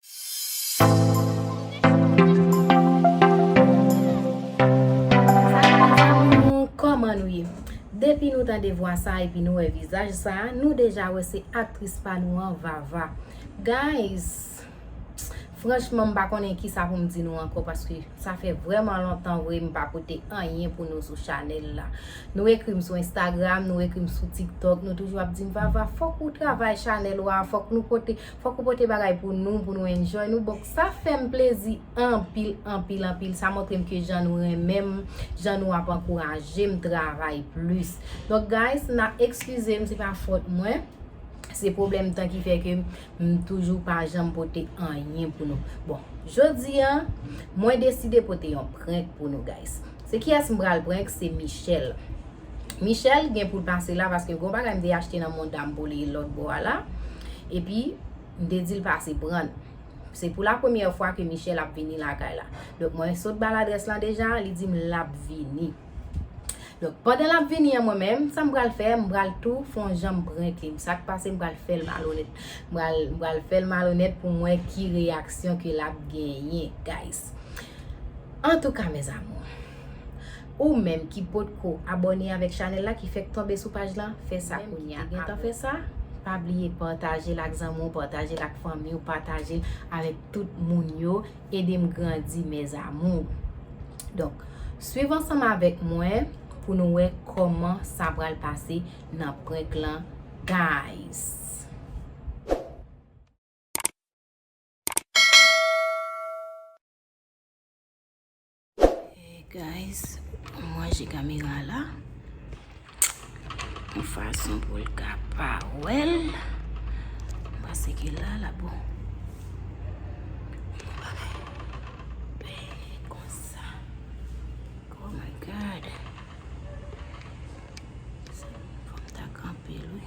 Salam zanmi m ou koman nou ye depi nou tande vwa sa epi nou wè vizaj sa nou deja wè se aktris pa nou an Vava guys franchman m pa konnen kisa pou m di nou ankò paske sa fè vrèman lontan vre m pa pote anyen pou nou sou chanèl la nou ekri m sou instagram nou ekri m sou tiktok nou toujou ap di m Vava fòk ou travay chanèl ou a fòk nou pote Fok ou pote bagay pou nou pou nou enjoy nou bok sa fem plezi anpil anpil anpil sa montrem ke jan nou renmenm jan nou ap ankourajem travay plis donk guys na eksizem se pa fot mwen se problem tan ki fe kem m toujou pa janm pote anyen pou nou bon jodi an mwen deside pote yon prenk pou nou guys se kiyes m pral prenk se Michelle. Michel gen poul pase la paske gon bagay m te achte nan mouda m pou li lòt bò a la epi m te dil pase prann se pou la premyè fwa ke Michel ap vini lakay la donk mwen sot bal adrès lan deja li dim lap vini donk pandan lap vini an mwen menm sa m pral fè m pral tou fon jan m prenke m sak pase m pral fèl malonèt m pral fèl malonèt pou m wè ki reyaksyon ke lap genyen guys antouka mes amours. Ou menm ki potko abòne avèk chanèl la ki fèk tonbe sou paj lan fè sa kounya a boo pa bliye patajel ak zanmi w patajel ak fanmi w patajel avèk tout moun yo edem grandi mes amours donk swiv ansanm avèk mwen pou nou wè kòman sa pral pase nan prank lan guys. Guys, m ranje kamera la. Yon fason pou l ka pa wè l. M panse ke la la bon. Yon bagay. Bèy konsa. Oh my God. Sa m fò m ta kanpe l wi.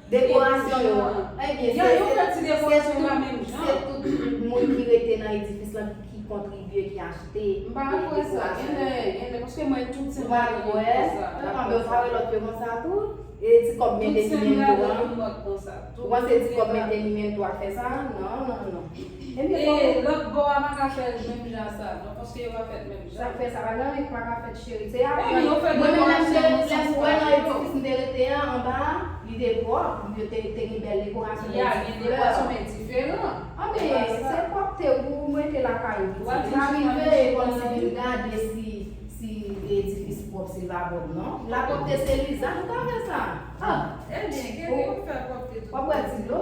Dekorasyon yo an. Ebyen, se tout moun ki rete nan edifis lan ki kontribye, ki achte dekorasyon yo. Ou pa kwè? Tanpè ou pa wè lòt yo konsa tou? E ti kòb mentenimento an? Ou panse ti kòb mentenimento a fè sa? Non, non, non. Sak fè sa pa gen anyen ki pa ka fèt cheri se aprann mwen menm lèm te lèm wè nan edifis m te rete an anba a li te pwòp yo te te gen bèl dekorasyon gen ti flè anben se pwòpte ou mete lakay ou pitit li pa rive kòmsi vin gade si si edifis pwòp se vagòb non la pwòpte se lizaj ou pa wè sa ah wap wè ti dlo.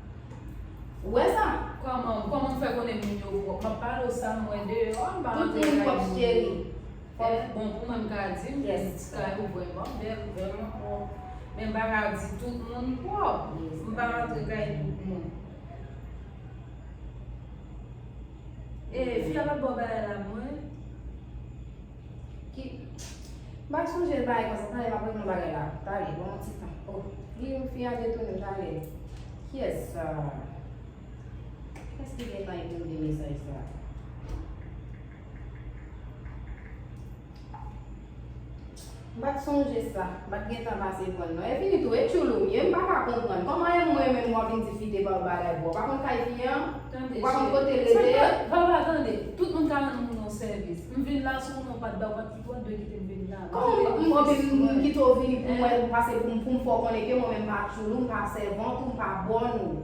Ou wè sa? Kòman, kòman m fè konnen moun yo pwòp? M ap pale w sa m wè deyò a, m pa rantre kay moun yo. Tout moun pwòp cheri. Pwòp, bon pou mwen m ka di m gen ti kay ou wè m an, bèl, vrèman pwòp. Men m pa ka di tout moun pwòp. M pa rantre kay tout moun. E, fi a pa t ba w bagay la mwen? Ki M pa sonje l parèy konsa tande m ap rele yon bagay la tande ban mwen ti tan oh li menm fi a detounen m tande kiyès sa kiyès ki gentan ekri m de mesaj sa M pat sonje sa, m pat gentan pase prann non. E fini tou, e tchoulou m ye, m paka konprann. Kòman e mwen menm wap vin di fi debal bagay pou? Ou pa konn kay fi an? Ou pa konn kote l rete? Vava tande, tout moun ka rann moun yon sèvis. M vin la sou moun ou pat bay, ou pat kite, wap dwe kite m vin la. Kòman m vin m kite w vini pou mwen pase pou m fè w konnen ke mwen menm m pa tchoulou, m pa sèvant ou, m pa bòn ou.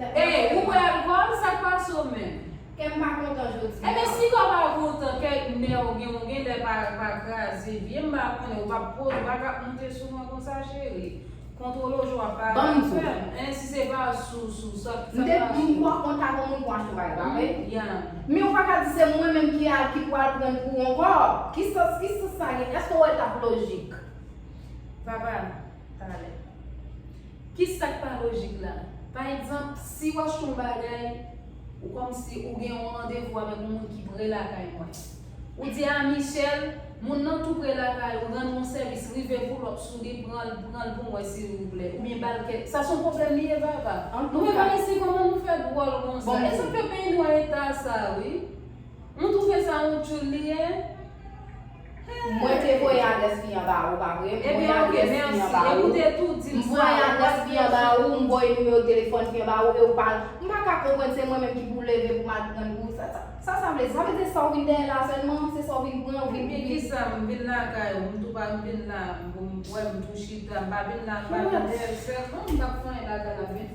Hey ou wè alcool sak pase w menm. Kèm pa kontan jodi a. Ebyen si kè w pa kontan kè nè w gen ou gen lè pa kraze vye m pa konnen ou pap po ou pa kap moute sou mwen konsa cheri kontwole w jan wap pale avè m hein si se pa sou sou sak pase w. M te di m pap kontan pou moun pran achte bagay pa vre? Yeah. Men ou pa ka di se mwen menm ki al ki pwal prann kou ankò ki sans ki sans sa gen èske w wè l tap lojik. Papa. talè. Ki sa k pa lojik la? Pa egzanp, si w achte yon bagay, ou kòmsi ou gen yon randevou avèk yon moun ki pre lakay mwen. Ou di, A Michel, moun nan tou pre lakay ou, rann mwen sèvis, rive poulòp sou li, pran l pran l pou mwen silvouplè. Oubyen ba l kèk. Sa s on pwoblèm li ye, Vava? Nou menm Ayisyen kòman nou fè dwòl konsa? Bon, e sa k fè peyi nou an eta sa a wi. Nou twouve sa yon tchoul li ye? Mwen te voye adrès li an ba ou pa vre m voye adrès li an ba ou m voye adrès li an ba ou m voye nimewo telefòn li an ba ou e ou pa m pa ka konprann se mwen menm ki pou leve pou m al prann pou sa sa vle di sa vle di se sa ou vin dèyè la sèlman se sa ou vin pran ou vin pou vin sa m vin lakay ou m tou pa m vin la pou m wè m tou chita m pa vin la m pa vin dèyè l sèlman m pa fè anyen lakay la m vin.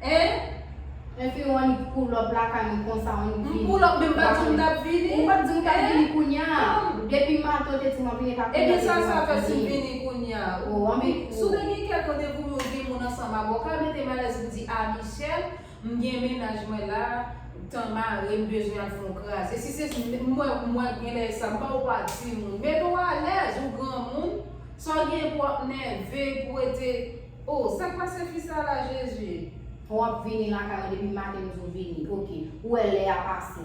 Hein? Enfim ou annik pull up lakay mwen konsa ou annik vini. M pull up men m pat di w m tap vini. Ou pat di m kap vini kounya. Depi maten w te di map vini epa kounya ou te di map vini. Ebyen sa sa fè si w vini kounya. Oh anpil kou. Si w te gen kè kote pou moun gen moun ansanm avè w ka mete m alèz pou di a Michel m gen mennaj mwen la tan mare m bezwen al fon kraze si se m wè m wè genlè e sa m ba w pa di moun mete w alèz ou granmoun sa w gen pou ap nève pou rete Oh sak pase fi sa la jezuu. Ou ap vini lakay ou depi maten m di w vini ok ou wè lè a pase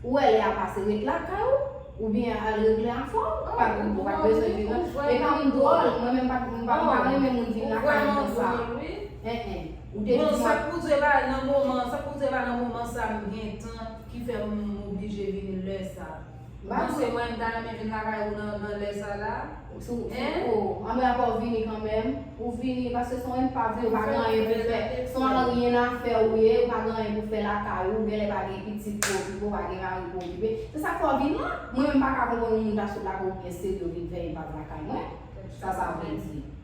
ou wè lè a pase ret lakay ou ou byen al regle afè w ou pa ou pat bezwen vin nan e pa m dwòl mwen menm m pa m pa renmen moun vin lakay m konsa eh eh ou te di mwen Bon sak pou w di la nan moman sak pou w di la nan moman sa m gentan ki fè m oblije vini lè sa. Mesye mwen m ta renmen vin lakay ou nan lè sa la hein. Anmwey apa ou vini kanmenm. Ou vini paske son enpav ou pa gen anyen pou fè. Son anryenafè ou ye ou pa gen anyen pou fè lakay ou. Ou genlè pa gen pitit pou okipe ou pa gen mari pou okipe. Se sak fè ou vin la. Mwen menm m paka konprann yon moun ta sot lakay ou byen serye ou vin fè enpav lakay mwen. Sa sa vle di.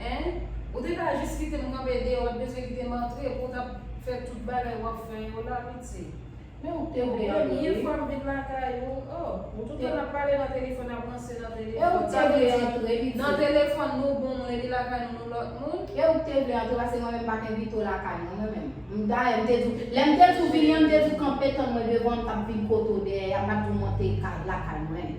Hein? Ou te ka jis kitem kanpe deyò pat bezwen kitem antre pouw tap fè tout bagay wap fè yo la pitye. Men ou te bel wi. Premye fwam vin lakay ou oh. Ou te. Nap pale nan telefòn nap ranse nan telefòn. Ew te vle antre pitye. Nan telefòn nou bon mwen li lakay nou nou lòt moun. Ew te vle antre pase mwen menm pat envite w lakay mwen mwen menm. M dayè m te diw lèm te diw vini an m te diw kanpe tann mwen devan an m tap vin kote w dèyè a m pat diw monte lakay mwen.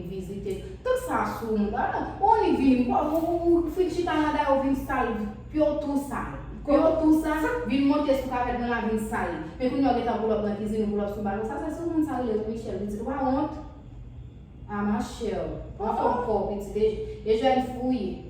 vizite tout sa sou moun pa nan ou annik vini ou fin chita nan da yo vin sal pyo tou sal pyo tou sal vin monte sou kavèt moun la vin sal li men kounya ou gentan poulòp nan kizin ou poulòp sou balkon sa se sou moun sa rele tou Michel pitit ou pa wont a ma chère ou anfòm fò pitit e jèn fouye.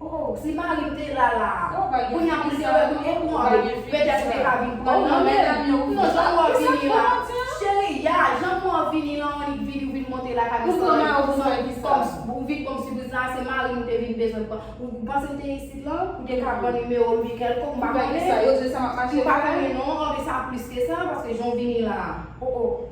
Oh si marim te la la. Kounya poul te wè mwen oh non avek petèt ou te ka vin pranl nan menl non janm wè vini la cheri ya janm wè vini lan on ik vini ou vin monte lakay mwen san mwen ou vin banm sipriz la se marim ou te vin bezwen pran ou panse ou te isit lan ou te ka pran nimewo m bikèlko m pa konnen m pa konnen non oh men sa plis ke sa paske jan w vini la oh oh.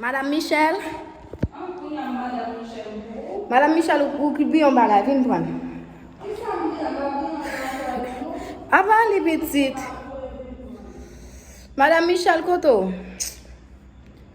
Madame Michel. Madame Michel, ou ki bi yon bagay, vin pran. Avan li pitit. Madame Michel, koto.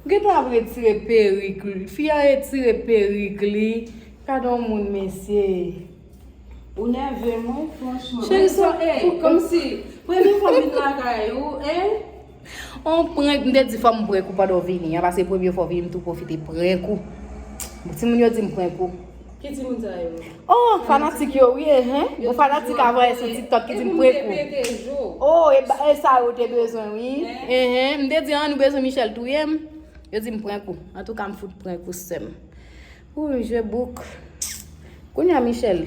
Ou gentan ap retire perik li. Fi a retire perik li. Gade yon moun mesye. Ou nève m wi franchman. Cheri sa e. Komsi premye fwa m vin lakay ou e. On prank m te di fò m prank ou pandan w vini an. Pase premye fwa w vini m tou pwofite prank ou. Timoun yo di m prank ou. Ki ti moun sa yo? Oh, fanatik yo wi e hen. Bon fanatik a voye sou TikTok ki di m pre kou. Oh, e, e sa yo te bezwen wi. E hen, m te di an nou bezwen Michel touye m. Yo di m pre kou. An tou ka m fout pre kou sèm. Ou, je bouk. Kounye a Michel.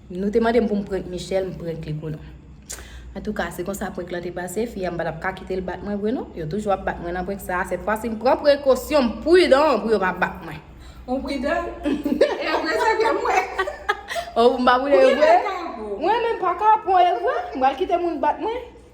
Nou te mande m pou m prank Michelle, m prank li pou nou. Antouka, se konsa prank lan te pase, fi a m pa tap ka kite l bat mwen vre non. Yo toujou ap bat mwen nan prank sa, sèt fwa si m pran prekosyon, m pridan pou yo pa bat mwen. Ou pridan? E vre sa ke m wè? Ou m pa pridan e vre? Ou renmen kapon? Mwen renmen pa kapon e vre, m pral kite moun bat mwen?